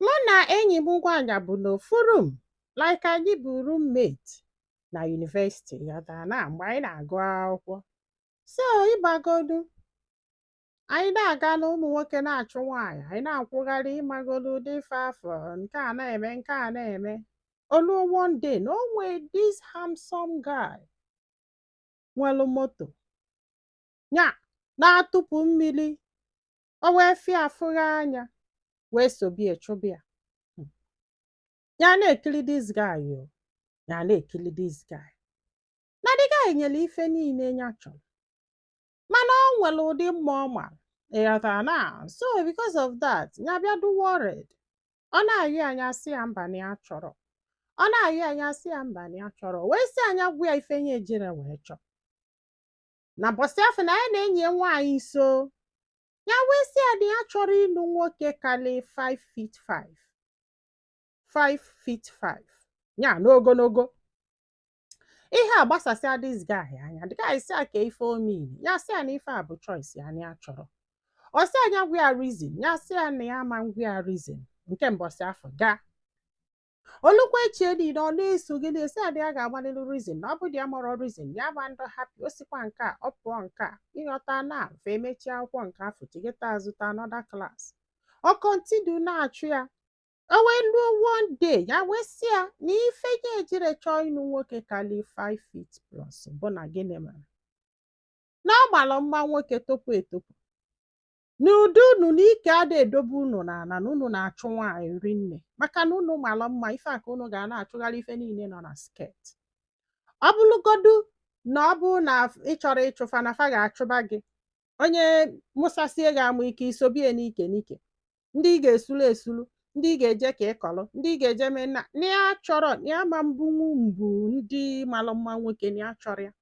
Mụ na enyi m nwaanyị bu n'ofu rum like anyị bụ roommate na yunivesiti ịghọtara na mgbe anyị na-agụ akwụkwọ. So ịmagodu, anyị na-aga na ụmụ nwoke na-achụ nwaanyị, anyị na-akwụgharị ịmagodu ụdị ife afụ nke a na-eme nke a na-eme. O luo one day na o nwee this handsome guy nwelu moto nya na-atụpụ mmiri O wee fụ ya afụ ya n'anya wee sobe ya chụba ya. Hmm. Ya na-ekiri this guy o. Ya na-ekiri this guy. Na the guy nwere ife niile ya chọrọ. Mana o nwere ụdị mma ọ mara. Ịghọtara na so because of that ya bịa dị worried. Ọ na-ayọ ya nya sị ya mba na ya achọrọ. Ọ na-ayọ ya nya sị ya mba na ya achọrọ. Wee sị ya nya gwa ya ife nya ejirọ wee chọọ. na mbọsị afụ na ya na enyi ya nwaanyị so ya wee sị ya na ya achọrọ ịlụ nwoke kalị 5 feet 5 5 feet 5 ya n'ogologo ihe a gbasasịa this guy anya the guy sị ya ka ife omini ya sị ya na ife a bụ choice ya na ya achọrọ ọ sị ya nya gwa ya reason ya sị ya na ya ama ngwa ya reason nke mbọsị afụ gaa o lukwa echi ya niile ọ na-esogide ya sị ya na ya ga-agwalịlị ya rizin na ọ bụ na ya amarọ rizin ya ama ndị hapi o sikwa nke a ọ pụọ nke a ịghọta na fa emechie akwụkwọ nke afọ chighata azụ to anọda klas ọ kọntinu na-achụ ya o wee luo one day ya wee sị ya na ife ya ejirọ chọọ ịnụ nwoke kali 5 feet plus bụ na gịnị mere na ọ mara mma nwoke topu etopu na ụdị unu na ike ada edobe unu na ala na unu na-achụ nwaanyị rinne maka na unu mara mma ife a ka unu ga na-achụgharị ife niile nọ na sket ọ bụrụgodu na ọ bụrụ na ị chọrọ ịchụfa na fa ga-achụba gị onye mụsasie gị amụ ike isobie n'ike n'ike ndị ị ga-esulu esulu ndị ị ga-eje ka ị kọrọ ndị ị ga-eje mee na na ya achọrọ na ya ama mbunwu ibu ndị mara mma nwoke na ya achọrọ ya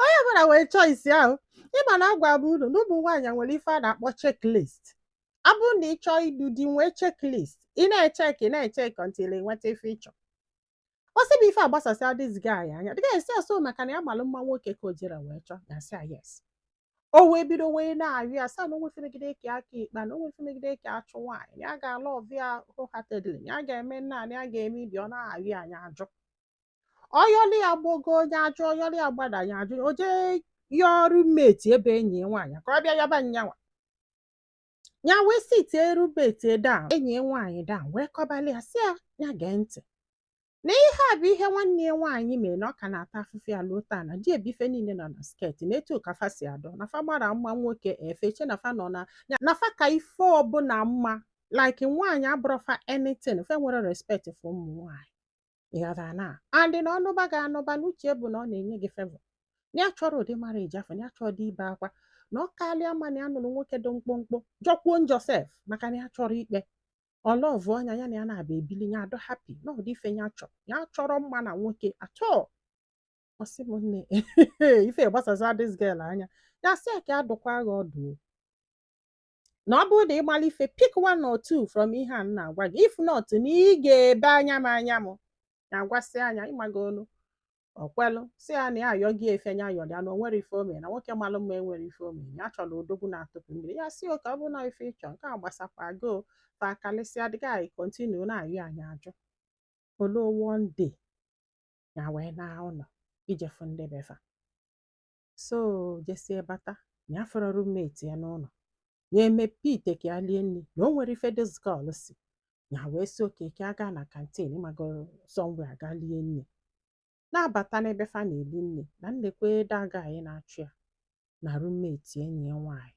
onye ọbụla nwere choice ahụ ịma na agwabu unu na ụmụ nwaanyị nwere ife a na-akpọ checklist ọ bụrụ na ị chọọ ịnụ di nwee checklist ị na-echek ị na-echek until ị nweta ife ị chọ ọ sị bụ ife a gbasasịa this guy anya the guy sị so maka na ya malụ mma nwoke ka o jirọ wee chọọ nya sị ya yes o wee bido wee na-arịọ ya sị ya na onwefe megide ka ya ka ikpa na onwefe megide ka ya chụ nwaanyị ya ga-alọvụ ya wholeheartedly ya ga-eme nna ya ga-eme ibi ọ na-arịọ ya nya ajụ ọ yọlụ ya gbagoo nya ajụ ọ yọlụ ya gbada ya ajụ o jee yọọ roommate ebe enyi ya nwaanyị ka ọ bịa yọba nya nwa ya wee sitie roommate down enyi ya nwaanyị down wee kọbalị ya sị ya ya gee ntị na ihe a bụ ihe nwanne ya nwaanyị mere na ọ ka na-ata afụfụ ya luo taa na di ebife niile nọ na skirt na etu ka fa si adọ na fa mara mma nwoke fa eche na fa nọ na na fa ka ife ọbụla mma like nwaanyị abụrọ fa anything fa enwere respect for ụmụ nwaanyị ịghọtara na and na ọ nụba gị anụba n'uche bụ na ọ na-eme gị favor na ya achọrọ ụdị marriage afọ na ya achọrọ ịdị ebe akwa na ọ karịa mma na ya nụrụ nwoke dị mkpụmkpụ jọkwuo njọ sef maka na ya chọrọ ikpe ọ lọvụọ nya ya na ya naabọ ebili ya adọ happy na ụdị ife ya chọrọ ya achọrọ mma na nwoke at all ọ sị m nne ife gbasasa this girl anya ya sị ya ka a dụkwaa gị ọdụ na ọ bụrụ na ị malụ ife pick one or two from ihe a m na-agwa gị if not na ị ga-ebe anya m anya m na-agwasịa nya ịmago olu ọ kwelụ sị ya na ya ayọ gị efe nya ayọ ya na o nwere ife ọ mean na nwoke malụ mma enwere ife ọ mean ya chọrọ odogwu na-atụpụ mmiri ya sị okay ọ bụrụ na ife ị chọ nke a gbasakwa gị fa akalịsịa the guy continue na-ayọ nya ajụ o lu one day ya wee naa ụlọ ije fụ ndị be fa so jesie bata nya afọrọ roommate ya n'ụlọ ya emepe ite ka ya lie nri na o nwere ife this girl si ya wee sị okay ka a gaa na canteen ịmago somewhere ga lie nri na-abata n'ebe fa na-eli nri na nekwa the guy na-achụ ya na roommate enyi ya nwaanyị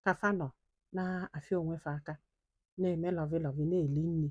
ka fa nọ na-afịa onwe fa aka na-eme lovey lovey na-eli nri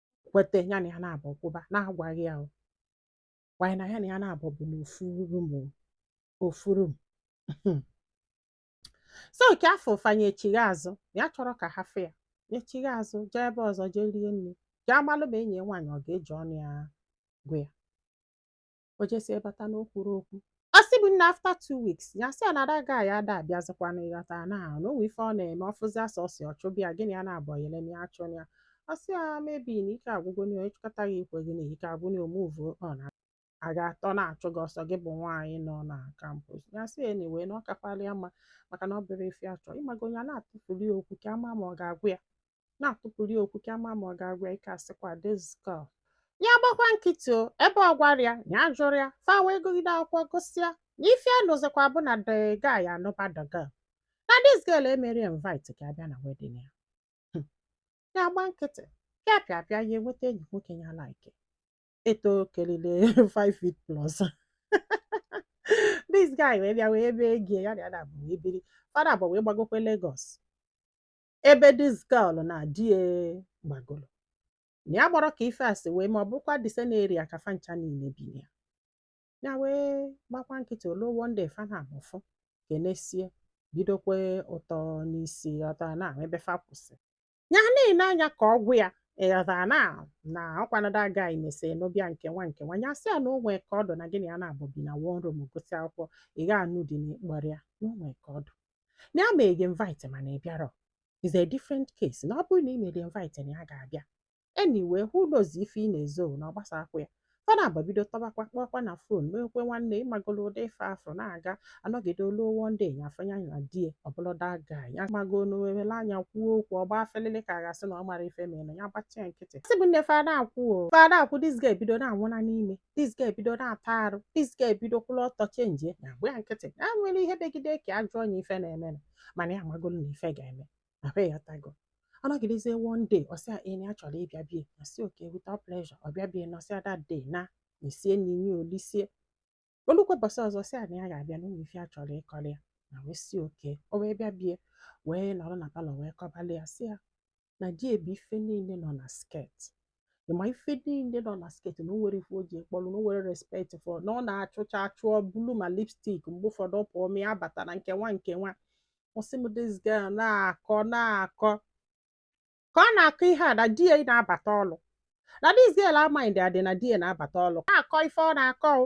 kweta ya na ya naabọ kwụba na-agwaghị ya wanyị na ya na ya naabọ bụ na ofu room so nke afụ fa nya echigha azụ ya achọrọ ka ha fụ ya echigha azụ jee ebe ọzọ jee rie nri ka a malụ ma enyi ya nwaanyị ọ ga-eji ọnụ ya gwa ya o jesie bata na o kwuru okwu ọ sị bụ nna after two weeks ya sị ya na that guy a ada abịazikwana ịghọta na ahụ na o nwe ife ọ na-eme ọfụzi asọ ọsị ọchụbịa gịnị ya na-abụ yele na ya chụ ya ọ sị ya maybe na ike agwụgo na onye chụkata gị i kweghị na ike agwụ na o move on a ga-atọ na-achụ gị ọ sọ gị bụ nwaanyị nọ na campus ya sị ya anyway na ọ kakwala ya mma maka na ọ bụrọ ife a chọ ịmago onye a na-atụfuli ya okwu ka ama ma ọ ga-agwa ya na-atụpụrụ ya okwu ka ama ma ọ ga-agwa ya ike asịkwa this girl ya gbakwa nkịtị o ebe ọ gwarọ ya ya ajụrọ ya fa wee gụgide akwụkwọ gụsịa na ife nụzikwa bụ na the guy anụba the girl na this girl emere invite ka abịa na wedding ya Hmm. ya gba nkịtị pịa pịa pịa ya enweta enyi nwoke ya like eto kelile 5 feet plus this guy wee bịa wee ebe egie ya na ya naabọ wee biri fa naabọ wee gbagokwe Lagos ebe this girl na di ya gbagoro na ya gbọrọ ka ife a si wee ma ọ bụkwa the same area ka fa ncha niile bi na ya ya wee gbakwa nkịtị o lu one day fa na amụfụ kenesie bidokwe ụtọ n'isi ọtọ na ebe fa kwụsị ya na-ene anya ka ọ gwa ya ịghọta na na ọkwanada agaghị mesi na ọ bịa nke nwa nke nwa ya sị ya na o nwee ka ọ dị na gị na ya naabọ bi na one room gụsịa akwụkwọ ị ga-anụ di na ị kpọrọ ya na o nwee ka ọ dị na ya mee gị invite mana ị bịarọ is a different case na ọ bụrụ na ị mere invite na ya ga-abịa anyway who knows ife ị na-ezo na ọ gbasakwa ya fa naabọ bido tọbakwa kpọọkwa na phone meekwe nwanne ị magolu ụdị ife afụ na-aga anọgide o lu one day ya afụ ya na di ya ọ bụlụ that guy ya mago n'owewele anya kwuo okwu ọgba afelele ka a ga-asị na ọ mara ife mere na ya gbachie nkịtị sị bụ nne fada akwụ o fada akwụ this guy bido na-anwụna n'ime this guy ebido na-ata arụ this guy ebido kwụrụ ọtọ chenjie ya gba ya nkịtị ya nwere ihe degide ka ajụ onye ife na-eme na mana ya amagolu na ife ga-eme ahụ ịghọtago ọ nọgidezie one day ọ sị ya enyi ya chọrọ ịbịa be ya ọ sị okay with all pleasure ọ bịa be ya na ọ sị ya that day na e sie nni nye o lisie o lukwe ụbọsị ọzọ sị ya na ya ga-abịa n'ụlọ ife ya chọrọ ịkọrọ ya na wee sị okay o wee bịa be ya wee nọrọ na palọ wee kọbalụ ya sị ya na di ya bụ ife niile nọ na skirt ị ma ife niile nọ na skirt na o nwere ife o ji kpọlụ na o nwere respect for na ọ na-achụcha achụ ọ bulu ma lipstick mgbe ụfọdụ ọ pụọ ma ya bata na nke nwa nke nwa ọ sị m this girl na-akọ na-akọ ka ọ na-akọ ihe a na di ya na-abata ọlụ na this girl amaghị dị adị na di ya na-abata ọlụ na-akọ ife ọ na-akọ o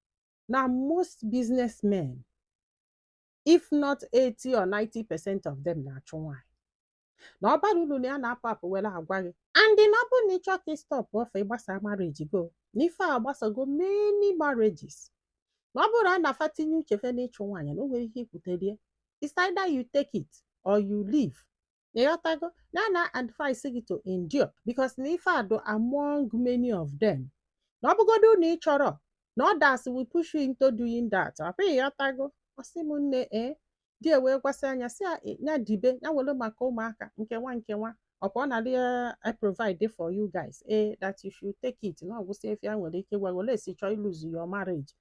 na most business men if not 80 or 90 percent of them na-achụ nwaanyị na ọ bara uru na ya na-apụ apụ were agwa gị and na ọ bụrụ na ị chọọ ka ị stop ofe ịgbasa marriage gị o na ife a agbasago many marriages na ọ bụrụ na fa tinye uche fa n'ịchụ nwaanyị na o nwere ihe ikwutelie it's either you take it or you leave ịghọtago na ya na-advise gị to endure because na ife a dị among many of them na ọ bụgodu na ị chọrọ na others will push you into doing that ọkwa ịghọtago ọ sị m nne ee di ya wee gwasịa ya sị ya dibe ya were maka ụmụaka nke nwa nke nwa ọkwa ọ na-adị provide for you guys ee that you should take it na ọ gwụsịa ife ya nwere ike gwa unless ị chọọ ịlose your marriage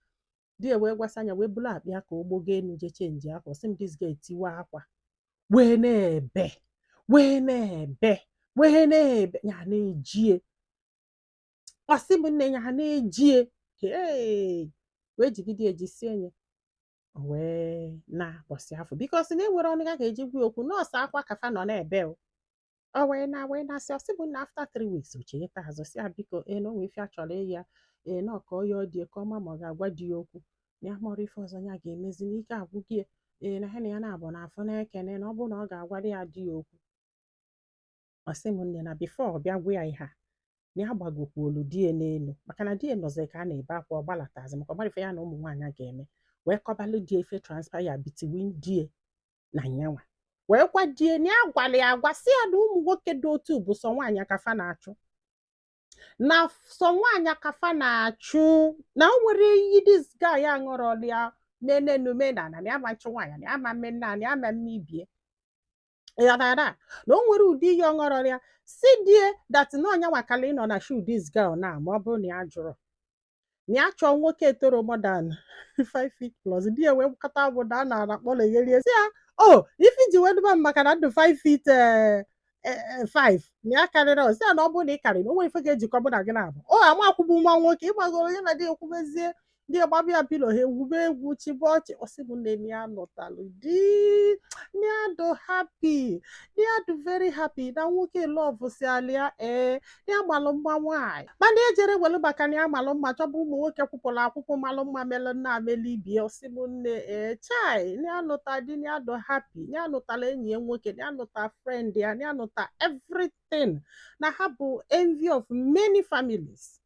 di ya wee gwasịa ya wee bulu akpa ya ka ọ gbagoo enu je chenji akwa ọ sị m this girl etiwe akwa wee na-ebe wee na-ebe wee na-ebe ya na-ejie ọ sị m nne ya na-ejie ee wee jigide ejisie ya wee na-akpọsị afọ because na enwere ọnụ a ga-eji kwuo okwu na ọ sọ akwa ka fa nọ na-ebe o o wee na wee na-asị ọ sị m na after three weeks o cheta azụ si ya biko ee na o nwee ife a chọrọ ịyọ ya na ọ ka ọ yọọ ya ọ dị ka ọ ma ma ọ ga-agwa di ya okwu na ya amarọ ife ọzọ ya ga-emezi na ike agwụgo ya na ha na ya naabọ na-afụ na-ekene na ọ bụrụ na ọ ga-agwara ya di ya okwu ọ sị m nne na before ọ bịa gwa ya ihe a na ya gbagokwu olu di ya n'elu maka na di ya nọzi ka a na-ebe akwa ọ gbalatazi maka ọ mara ife ya na ụmụ nwaanyị ga-eme wee kọbalụ di ya ife transpire between di ya na nyanwa wee gwa di ya na ya gwara ya agwa sị ya na ụmụ nwoke dị otu bụ sọ nwaanyị ka fa na-achụ na sọ nwaanyị ka fa na-achụ na o nwerọ iyi this guy aṅụrọla ya ma n'enu ma n'ana na ya ama nchụ nwaanyị na ya ama mme nna na ya ama mme ibe ya na na na o nwerọ ụdị iyi ọ ṅụrọla ya sị di ya that na ọ nya nwa kala ịnọ na shoe this girl na ma ọ bụrụ na ya jụrụ na ya chọọ nwoke etoro more than 5 feet plus di ya wee kpọkọta agbụ na a na-ara kpọrọ egherie si ya ọ ife i ji wee duba m maka na m dụ 5 feet eh, eh, eh, 5 na ya karịrị ọ sị ya na ọ bụrụ na ị karịrọ o nwerọ ife ga-ejikọ mụ na gị naabọ o amakwụbụ nwa nwoke ịgbagoro ya na di ya ekwubezie di ya agbaba ya pillow ha egwube egwu chịbe ọchị ọ sị m nne na ya nụtalụ di na ya dụ happy na ya dụ very happy na nwoke love sialị ya ee ya malụ mma nwaanyị mana ejerọ welu maka na ya malụ mma chọba ụmụ nwoke kwụpụrụ akwụkwọ malụ mma melụ nna melụ ibe ya ọ sị m nne ee chai na ya nụta di na ya dụ happy na ya nụtala enyi ya nwoke na ya nụta friend ya na ya nụta everything na ha bụ envy of many families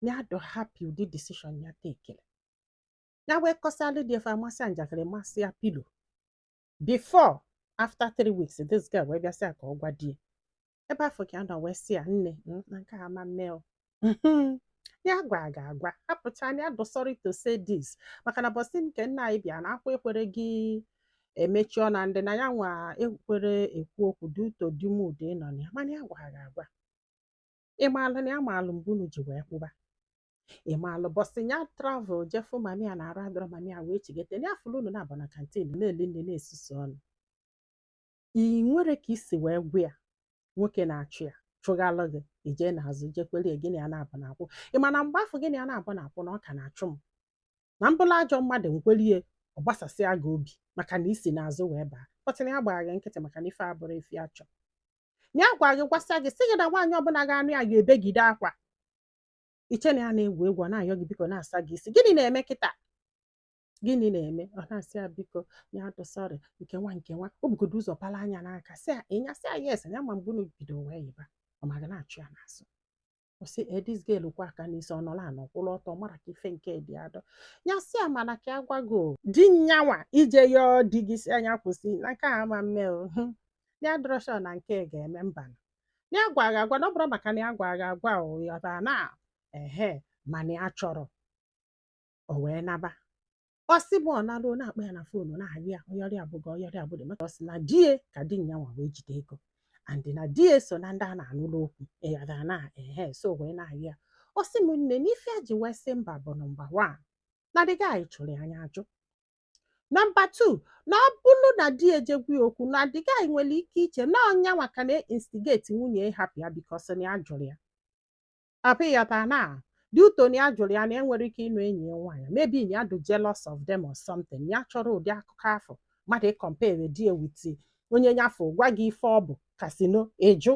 na ya dụ happy ụdị decision ya takere ya wee kọsịalụ di ya fa amasịa njakịrị masịa pillow before after three weeks this girl wee bịa sị ya ka ọ gwa di ya ebe afụ ka ọ nọ wee sị ya nne hmm, na nke ama mme o ya gwa gị agwa hapụcha na ya dụ sorry to say this maka na mbọsị nke nna anyị bịa na akwa ekwerọ gị emechi ọnụ ndị na ya nwa ekwerọ ekwu okwu due to the mood ị nọ na ya mana ya gwa gị agwa ị maalụ na ya maalụ mgbe unu ji wee kwụba ị maalụ mbọsị ya travel jee fụ mummy ya na arụ adụrọ mummy ya wee chigete ya fụrụ unu naabọ na canteen na-eli nni na-esusu ọnụ i nwere ka i si wee gwa ya nwoke na-achụ ya chụghalụ gị i jee n'azụ jekwere ya gị na ya naabọ na-akwụ ị ma na mgbe afụ gị na ya naabọ na-akwụ na ọ ka na-achụ m na m bụlụ ajọ mmadụ m kwere ya ọ gbasasịa gị obi maka na i si n'azụ wee baa kpọtịna ya gbara gị nkịtị maka na ife abụrọ ife ya chọrọ na ya gwara gị gwasịa gị sị gị na nwaanyị ọbụla ga-anụ ya ga-ebegide akwa i che na ya na-egwu egwu ọ na-ayọ gị biko na-asa gị isi gịnị na-eme kịta gịnị na-eme ọ na-asị ya biko ya dị sorry nke nwa nke nwa o bugodo ụzọ bala anya n'aka sị ya ị na-asị ya yes ya ma mgbe unu bido wee yiba ọ ma ga na-achụ ya n'azụ ọ sị this girl kwa aka n'isi ọ nọla anọ kwụrụ ọtọ mara ka ife nke dị adọ ya sị ya mana ka ya gwago di nyanwa ije yọọ di gị sị na ya kwụsị na nke a ama mme o hụ ya dịrọ sure na nke ga-eme mba na ya gwa gị agwa na ọ bụrụ maka na ya gwa gị agwa ị ghọta na ehe mana ya chọrọ o wee naba ọ sị m ọ nalụ na-akpọ ya na phone na-ayọ ya ọyọrịa abụghị ọyọrịa abụghị maka ọ sị na di ya ka di ya nwa wee jide ego and na di ya so na ndị a na-anụlụ okwu ị ghọta na ehe so wee na-ayọ ya ọ sị m nne na ife ya ji wee sị mba bụ nọmba wan na the guy chụrụ ya nya ajụ nọmba tu na ọ bụrụ na di ya ejee gwa ya okwu na the guy nwere ike iche na ọ nyanwa ka na-instigate nwunye ya ịhapụ ya because na ya jụrụ ya Ị ghọta na due to na ya jụrụ ya na e nwere ike ịnụ enyi ya nwaanyị maybe na ya dị jealous of them or something na ya achọrọ ụdị akụkọ afụ mmadụ ị-compare di ya with onye nyafọ gwa gị ife ọ bụ kasino ịjụ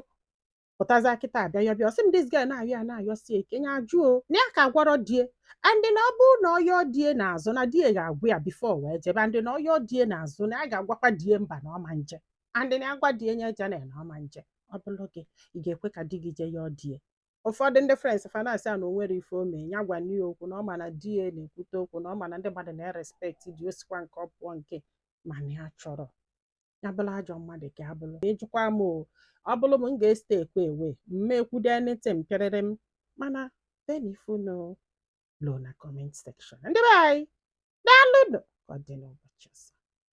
pụtaza kịta abịa ya bịa ọ sị m this girl na-ayọ ya na-ayọsi ya ike ya ajụ na ya ka gwarọ di ya and na ọ bụrụ na ọ yọọ di ya n'azụ na di ya ga-agwa ya before wee jebe and na ọ yọọ di ya n'azụ na ya ga-agwakwa di ya mba na ọ ma nje and na agwa di ya nya ejena na ọ ma nje ọ bụrụ gị ị ga-ekwe ka di gị jee yọọ di ya ụfọdụ ndị friends fa na-asị ya na o nwere ife o mee ya gwa nne ya okwu na ọ ma na di ya na-ekwute okwu na ọ ma na ndị mmadụ na-erespekti di o sikwa nke ọ pụọ nke mana ya chọrọ ya bụrụ ajọ mmadụ ka ya bụrụ ịjụkwa m o ọ bụrụ m m ga-esite ekwe ewe mma ekwudo anything pịarịrị m mana denye ife unu lo na comment section ndị be anyị daalụnụ ka ọ dị n'ụbọchị ọzọ